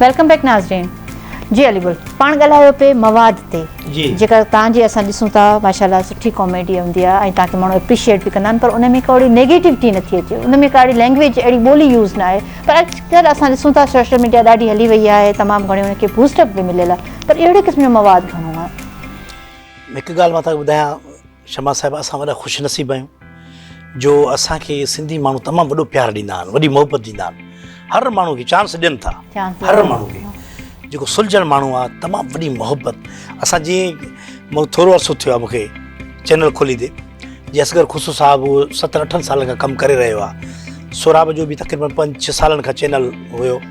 Welcome back ناظرين جي علي گل پاڻ ڳالهايو پئي مواد تي جيڪا تان جي اسان ڏسون ٿا ماشاء الله سٺي ڪاميڊي هوندي آهي ۽ تان کي ماڻهو اپريشيئيٽ به ڪندا آهن پر ان ۾ ڪا اهڙي نيگيٽوٽي نٿي اچي ان ۾ ڪا اهڙي لينگويج اهڙي ٻولي يوز نه آهي پر اڄڪلهه اسان ڏسون ٿا سوشل ميڊيا ڏاڍي هلي وئي آهي تمام گهڻي ان کي بوسٽ اپ به مليل آهي پر اهڙي قسم جو مواد گهڻو آهي هڪ ڳالهه مان تان کي ٻڌايان شمع صاحب اسان وڏا خوش نصيب آهيون جو اسان کي سنڌي ماڻهو تمام وڏو پيار ڏيندا آهن وڏي محبت ڏيندا آهن هر ماڻهو کي چانس ڏين ٿا هر ماڻهو کي جيڪو سلجھڻ ماڻهو آهي تمام وڏي محبت اسان جي مون ٿورو عرصو ٿيو آهي مونکي چينل کولي دي جي اصغر خصوص صاحب ستن اٺن سالن کان ڪم ڪري رهيو آهي سوراب جو به تقريبن پنج ڇهه سالن کان چينل هيو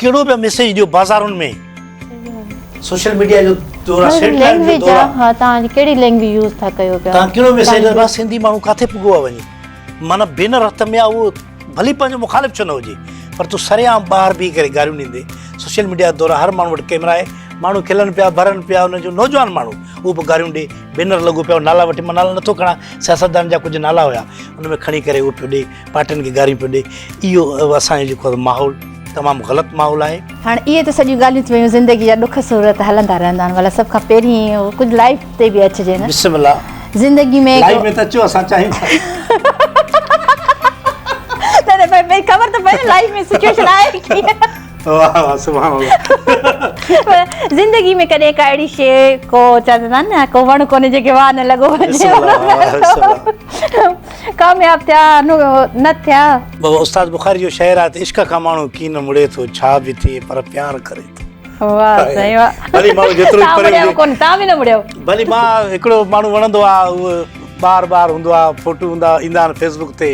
ڪهڙو پيا ميسيج ڏيو بازارن ۾ سوشل ميڊيا جو دور آ سيٽ لائيٽ جو دور آ ها تان جي ڪهڙي لينگويج يوز ٿا ڪيو پيا تان ڪهڙو ميسيج ڏيو سنڌي ماڻهو ڪاٿي پڳو آ وڃي معنيٰ بين رت ميا هو ڀلي پنهنجو مخالف ڇو نه هجي پر تو سري عام ٻاهر بيهي ڪري گاريون ڏيندي سوشل ميڊيا جو دور آ هر ماڻهو وٽ ڪيمرا آهي ماڻهو کلن پيا ڀرن پيا ان جو نوجوان ماڻهو هو به گاريون ڏي بينر لڳو پيو نالا وٺي مان نالا نٿو کڻا سياستدان جا ڪجهه نالا هيا ان ۾ کڻي ڪري هو پيو ڏي پارٽين کي گاريون پيو ڏي اهو اسان جو جيڪو ماحول تمام غلط ماحول آهي هاڻ اهي ته سڄيون ڳالهيون ٿي ويون زندگي جا ڏک سور ته هلندا رهندا آهن ڀلا سڀ کان پهرين ڪجهه لائف تي به اچجي نه بسم الله زندگي ۾ لائف ۾ ته اچو اسان چاهيون ٿا نه نه ڀاء خبر ته پئي لائف ۾ سچويشن آهي ڪيئن واهه واهه سبحان الله زندگي ۾ ڪڏهن ڪا اهڙي شي ڪو چوندا نه ڪو وڻ ڪونهي جيڪي واهه نه لڳو هجي ڪامياب ٿيا نه ٿيا. بابا استاد بخاري جو شعر آهي ته عشق کان ماڻهو ڪين نه مڙي ٿو ڇا به ٿئي پر پيار ڪري ٿو. واهه سائين واهه. ڀلي ماڻهو جيترو ئي پري هجي. توهان به نه مڙيو. ڀلي مان هڪڙو ماڻهو وڻندو آهي اهو ٻار ٻار هوندو آهي فوٽو هوندا ايندا آهن فيس بوڪ تي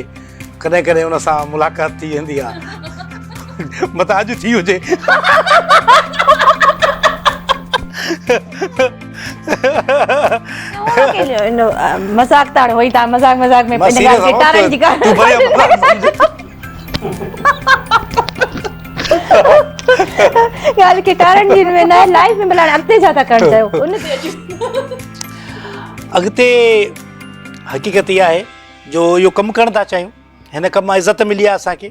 ڪڏهن ڪڏهن ان سان ملاقات ٿي ويندي آهي متان اڄ ٿي هجي. مذاق تاڙ هئي تان مذاق مذاق ۾ پنهنجي گال کي ٽارڻ جي ڳالهه تون بھريا مذاق سمجھ گال کي ٽارڻ جي ۾ نه لائف ۾ بلاڻ اڳتي ڇا ٿا ڪرڻ چاهيو ان تي اچي اڳتي حقيقت اها آهي جو اهو ڪم ڪرڻ ٿا چاهيون هن ڪم مان عزت ملي آهي اسان کي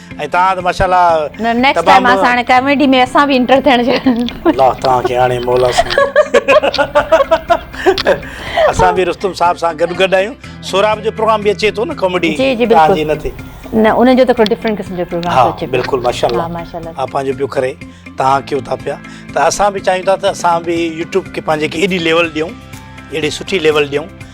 ۽ توهان ته ماشاءالله نه نيڪسٽ ٽائيم اسان هاڻي ڪاميڊي ۾ اسان به انٽر ٿيڻ جي الله توهان کي هاڻي مولا سان اسان به رستم صاحب سان گڏ گڏ آهيون سوراب جو پروگرام به اچي ٿو نه ڪاميڊي جي جي بلڪل جي نٿي نه ان جو ته ڪو ڊفرنٽ قسم جو پروگرام ٿو اچي بلڪل ماشاءالله ماشاءالله اپ پنهنجو پيو ڪري توهان ڪيو ٿا پيا ته اسان به چاهيون ٿا ته اسان به يوٽيوب کي پنهنجي کي ايڏي ليول ڏيون اهڙي سٺي ليول ڏيون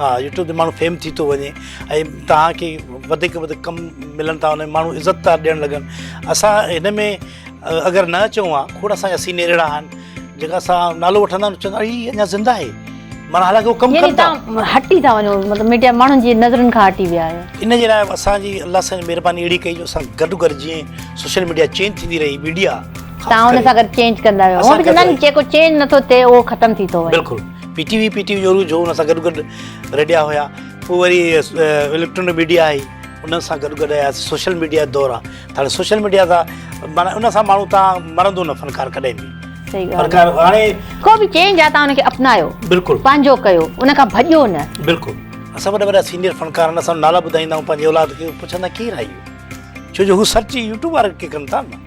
ها يوٽيوب تي ماڻهو فيم ٿي ٿو وڃي ۽ توهان کي وڌيڪ وڌيڪ ڪم ملن ٿا ان ماڻهو عزت ٿا ڏيڻ لڳن اسان هن ۾ اگر نه اچون ها کوڙ اسان سينيئر اهڙا آهن جيڪا اسان نالو وٺندا آهن چوندا هي اڃا زنده آهي مانا حالانڪه هو ڪم ڪن ٿا هٽي ٿا وڃو مطلب ميڊيا ماڻهن جي نظرن کان هٽي ويا آهيو ان جي لاء اسان جي الله سان مهرباني اهڙي ڪئي جو اسان گڏ گڏ جي سوشل ميڊيا چينج ٿيندي رهي ميڊيا تان ان سان گڏ چينج ڪندا رهو هو به چينج نٿو ٿئي اهو ختم ٿي ٿو وڃي بلڪل P T V P T V جو عروج هو ان سان گڏ گڏ ريڊيا هيا پوء وري اليڪٽرانڪ ميڊيا آئي ان سان گڏ گڏ آيا سوشل ميڊيا جو دور آهي ته هاڻي سوشل ميڊيا سان معنيٰ ان سان ماڻهو تان مرندو نه فنڪار ڪڏهن به صحيح ڳالهه فنڪار هاڻي ڪو به چينج آهي تان ان کي اپنايو بلڪل پنهنجو ڪيو ان کان ڀڄو نه بلڪل اسان وڏا وڏا سينئر فنڪار ان سان نالا ٻڌائيندا آهيون پنهنجي اولاد کي پڇندا ڪير آهي اهو ڇو جو هو سرچ يوٽيوب وارا ڪي ڪن ٿا نه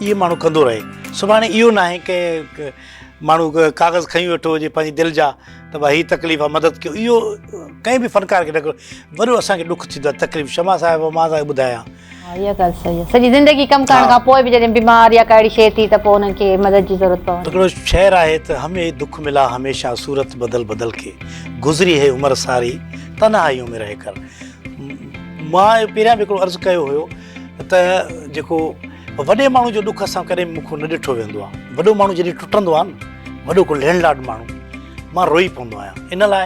اهي ماڻهو ڪندو رهي سڀاڻي اهو ناهي ڪي ماڻهو ڪاغذ کڻي ويٺو هجي پنهنجي دل جا ته ڀاء هي تڪليف آهي مدد ڪيو اهو ڪنهن به فنڪار کي نه ڪيو وڏو اسانکي ڏک ٿيندو آهي تڪليف شمع صاحب مان تان ٻڌايا ها اها ڳالهه صحيح آهي سڄي زندگي ڪم ڪرڻ کان پوء به جڏهن بيمار يا ڪا اهڙي شيء ٿي ته پوء انهن کي مدد جي ضرورت پوندي هڪڙو شعر آهي ته همي دک ملا هميشه صورت بدل بدل ڪي گذري هي عمر ساري تنهائيون ۾ رهي ڪر مان پهريان به هڪڙو عرض ڪيو هيو ته جيڪو وڏي ماڻهو جو ڏک اسان ڪڏهن مون کان نه ڏٺو ويندو آهي وڏو ماڻهو جڏهن ٽٽندو آهي نه وڏو ڪو لينڊ لارڊ ماڻهو مان روئي پوندو آهيان ان لاء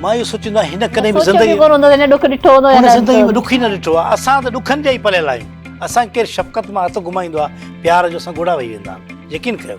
مان اهو سوچيندو آهيان هن ڪڏهن به زندگي ۾ ڪونه هن ڏک ڏٺو هوندو هن زندگي ۾ ڏک ئي نه ڏٺو آهي اسان ته ڏکن جا ئي پليل آهيون اسان کي ڪير شفقت مان هٿ گهمائيندو آهي پيار جو اسان ڳوڙها وهي ويندا آهن يقين ڪيو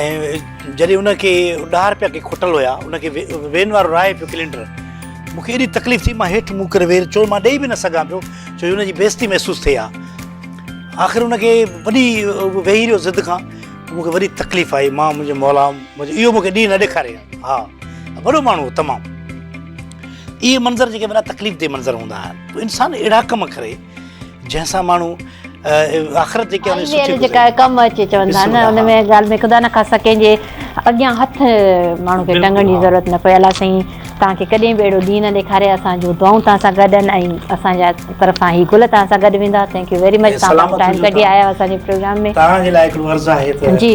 ۽ جڏهن ان کي ڏهه رپيا ڪنهن کوٽل هيا ان کي وين وارو راهي پيو ڪلينڊر مون کي ايڏي تڪليف ٿي مان هيٺ منهن ڪري ويهي رهيس ڇو مان ڏئي به نه سگهان پيو ڇو جو ان جي بيزتي محسوس ٿئي ها آخر ان کي وڏي ويهي رهيو ضد کان مون کي وڏي تڪليف آئي مان منهنجو مولا منهنجو اهو مون کي ڏينهن نه ڏيکاري ها وڏو ماڻهو تمام اهي منظر جيڪي وڏا تڪليف دي منظر هوندا آهن انسان اهڙا ڪم ڪري جنهن سان ماڻهو آخرت جيڪي آهي سٺي گذري جيڪا ڪم اچي چون ٿا نه ان ۾ ڳالهه ۾ خدا نه خاصا ڪنهن جي اڳيان هٿ ماڻهو کي ٽنگڻ جي ضرورت نه پئي الله سائين توهان کي ڪڏهن به اهڙو ڏينهن نه ڏيکاري اسان جون دعائون توهان سان گڏ آهن ۽ اسان جا طرفان هي گل توهان سان گڏ ويندا ٿينڪ يو ويري مچ توهان ٽائيم ڪڍي آيا آهيو اسان جي پروگرام ۾ توهان جي لاء هڪڙو عرض آهي ته جي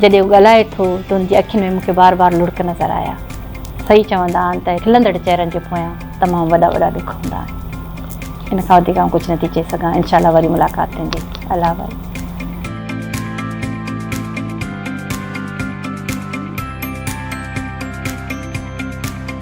جڏهن هو ڳالهائي ٿو ته هن جي اکين ۾ مون کي بار بار لڙڪ نظر آيا. صحيح چوندا آهن ته کلندڙ چهرن جي پويان تمام وڏا وڏا ڏک هوندا آهن. ان کان وڌيڪ آئون ڪجهه نه ٿي چئي سگهان. انشاء الله وري ملاقات ٿيندي. الله حافظ.